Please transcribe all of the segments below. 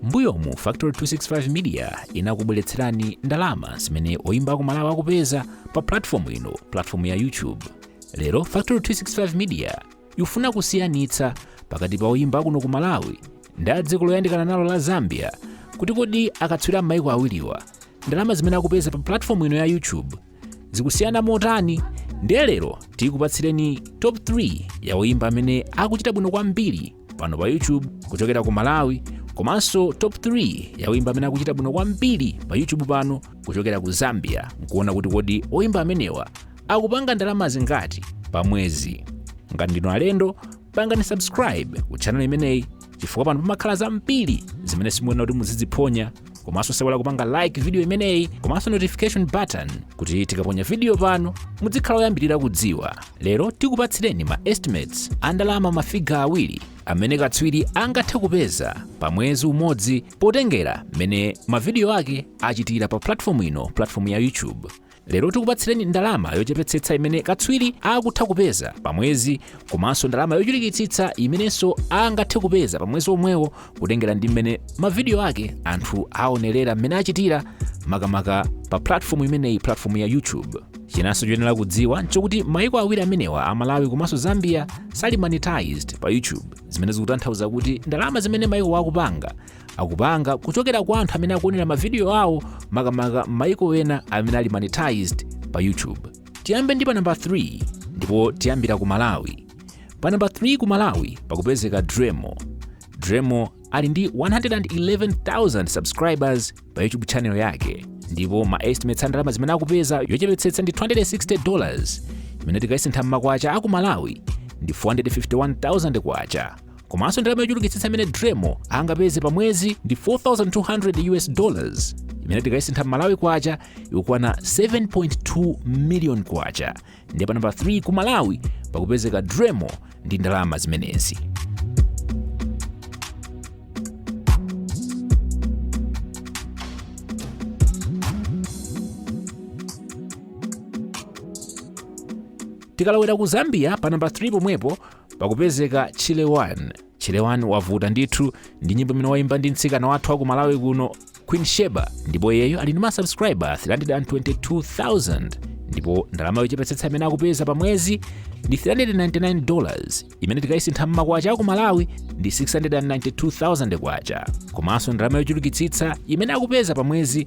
mbuyomu factory 265 media inakubweretserani ndalama zimene oyimba a ku malawi akupeza pa platform ino platform ya youtube lero factory 265 media ikufuna kusiyanitsa pakati pa oyimba akuno ku malawi ndi dziko loyandikana nalo la zambia kuti kodi akatswiri a maiko awiriwa ndalama zimene akupeza pa platform ino ya youtube zikusiyana motani ndiye lero tikupatsireni top 3 ya oyimba amene akuchita bwino kwambiri pano pa youtube kuchokera ku malawi komanso top 3 ya oyimba amene akuchita bwino kwambiri pa youtube pano kuchokera ku zambia nkuona kuti kodi oyimba amenewa akupanga ndalama zingati pa mwezi ngati ndinu alendo pangani subscribe ku channel imeneyi chifukwa pano pamakhala zambiri zimene simuyenera kuti muziziphonya komanso osaiwala kupanga like video imeneyi komanso notification button kuti tikaponya video pano mudzikhala oyambirira kudziwa lero tikupatsireni ma estimates a ndalama mafiga awiri amene katswiri angathe kupeza pa mwezi umodzi potengera mmene mavidiyo ake achitira pa platform ino platform ya youtube lero tikupatsireni ndalama yochepetsetsa imene katswiri akutha kupeza pa mwezi komanso ndalama yochulukitsitsa imenenso angathe kupeza pa mwezi omwewo kutengera ndi mmene mavidiyo ake anthu aonerera mmene achitira makamaka pa platform imeneyi platform ya youtube chinanso choyenera kudziwa nchokuti maiko awiri amenewa a malawi komanso zambia sali monetized pa youtube zimene zikutanthauza kuti ndalama zimene maikowa akupanga akupanga kuchokera kwa anthu amene akuonera mavidiyo awo makamaka mayiko ena amene ali monetized pa youtube tiyambe ndi pa namba 3 ndipo tiyambira ku malawi pa namba 3 ku malawi pakupezeka driemo driemo ali ndi 111,000 subscribers pa youtube channel yake ndipo ma estimates a ndalama zimene akupeza yochepetsetsa ndi 260 dollars imene tikayisintha m'makwacha aku malawi ndi 451,000 kwacha komanso ndalama yochulukitsitsa imene driemo angapeze pa mwezi ndi 4200 us dollars imene tikayisintha m'malawi kwacha ikukwana 7.2 million kwacha ndiye pa namba 3 ku malawi pakupezeka driemo ndi ndalama zimenezi tikalowera ku zambia pa namba 3 pomwepo pakupezeka chile 1 chile 1 wavuta ndithu ndi nyimbo imene waimba ndi mtsikana wathu wa ku malawi kuno queen sheba ndipo iyeyo ali ndi masubscriber 322000 ndipo ndalama yochepetsetsa imene akupeza pa mwezi ndi 399 dollars imene tikayisintha mmakwacha aku malawi ndi 692000 kwacha komanso ndalama yochulukitsitsa imene akupeza pa mwezi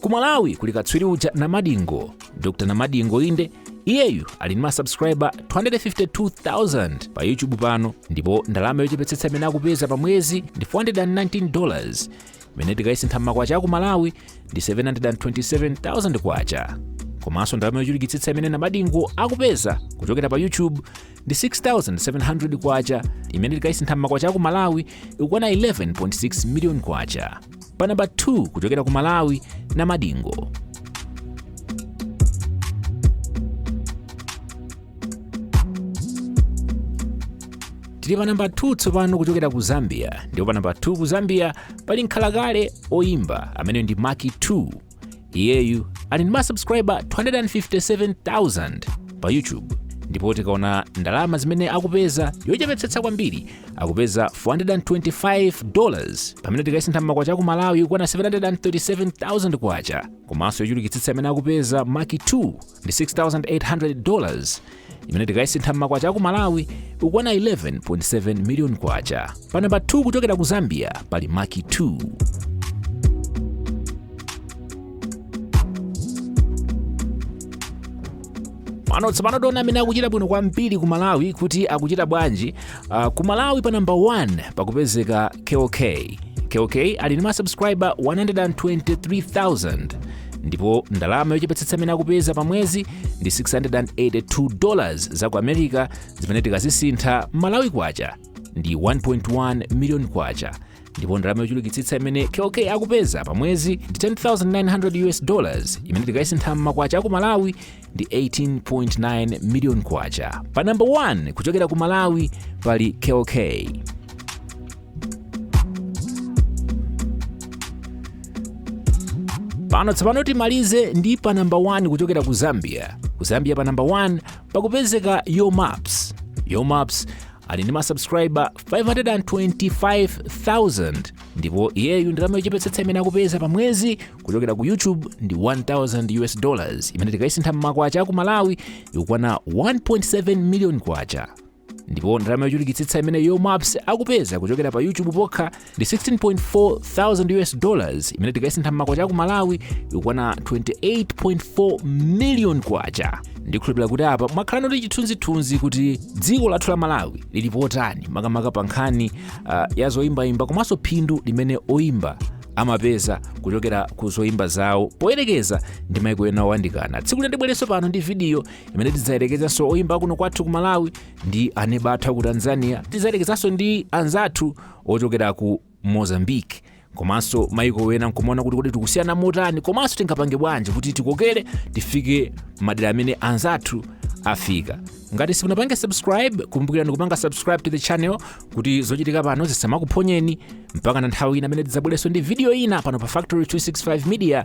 ku malawi kuli katswiri uja namadingo dr namadingo inde iyeyu ali ndi masubscriber 252000 pa youtube pano ndipo ndalama yochepetsetsa imene akupeza pa mwezi ndi 419 dollars imene tikayisintha m'makwacha aku malawi ndi 727000 kwacha komanso ndalama yochulukitsitsa imene namadingo akupeza kuchokera pa youtube ndi 6700 kwacha imene tikayisintha m'makwacha aku malawi ikukwana 11.6 million kwacha pa namba 2 kuchokera ku malawi namadingo tili pa namba 2 tsopano kuchokera ku zambia ndipo pa namba 2 ku zambia pali mkhalakale oyimba amene ndi macky 2 iyeyu ali ndi masubscriber 257,000 pa youtube ndipo tikaona ndalama zimene akupeza yochepetsetsa kwambiri akupeza 425 dollars pamene tikayisintha m'makwacha aku malawi ikukwana 737,000 kwacha komanso yochulukitsitsa imene akupeza macky 2 ndi 6,800 dollars imene tikayisintha m'makwacha aku malawi ikukwana 11.7 miliyoni kwacha pa namba 2 kuchokera ku zambia pali macky 2 pano tsopano tiona amene akuchita bwino kwambiri ku malawi kuti akuchita bwanji uh, ku malawi pa namba 1 pakupezeka kell kay kell kay ali ndi masubscriber 123000 ndipo ndalama yochepetsetsa imene akupeza pa mwezi ndi 682 dollars za ku america zimene tikazisintha m'malawi kwacha ndi 1.1 miliyoni kwacha ndipo ndalama yochulukitsitsa imene kell kay akupeza pa mwezi ndi 10900 us dollars imene tikayisintha m'makwacha aku malawi ndi 18.9 miliyoni kwacha pa namba 1 kuchokera ku malawi pali kell kay pano tsopano timalize ndi pa namba 1 kuchokera ku zambia ku zambia pa namba 1 pakupezeka yo maps yo maps ali ndi masubscriber 525000 ndipo iyeyu ndalama yochepetsetsa imene akupeza pa mwezi kuchokera ku youtube ndi 1000 us dollars imene tikayisintha mmakwacha aku malawi ikukwana 1.7 million kwacha ndipo ndalama yochulukitsitsa imene yo maps akupeza kuchokera pa youtube pokha ndi 16.4 thousand us dollars imene tikayisintha m'makwacha aku malawi ikukwana 28.4 million kwacha ndikhulupirira kuti apa mwakhala nacho chithunzithunzi kuti dziko lathu la malawi lili potani makamaka pa nkhani uh, ya zoyimbayimba komanso phindu limene oyimba amapeza kuchokera ku zoyimba zawo poyerekeza ndi maiko ena owandikana tsiku lina ndibwerenso pano ndi vidiyo imene tidzayerekezanso oyimba akuno kwathu ku malawi ndi aneba athu aku tanzania tidzayerekezanso ndi anzathu ochokera ku mozambique komanso maiko ena nkumaona kuti kodi tikusiyana motani komanso tingapange bwanji kuti tikokere tifike madera amene anzathu afika ngati simunapange subscribe kumbukirani kupanga subscribe to the channel kuti zochitika pano zisamakuphonyeni mpaka na nthawi ina imene tidzabwerenso ndi video ina pano pa factory 265 media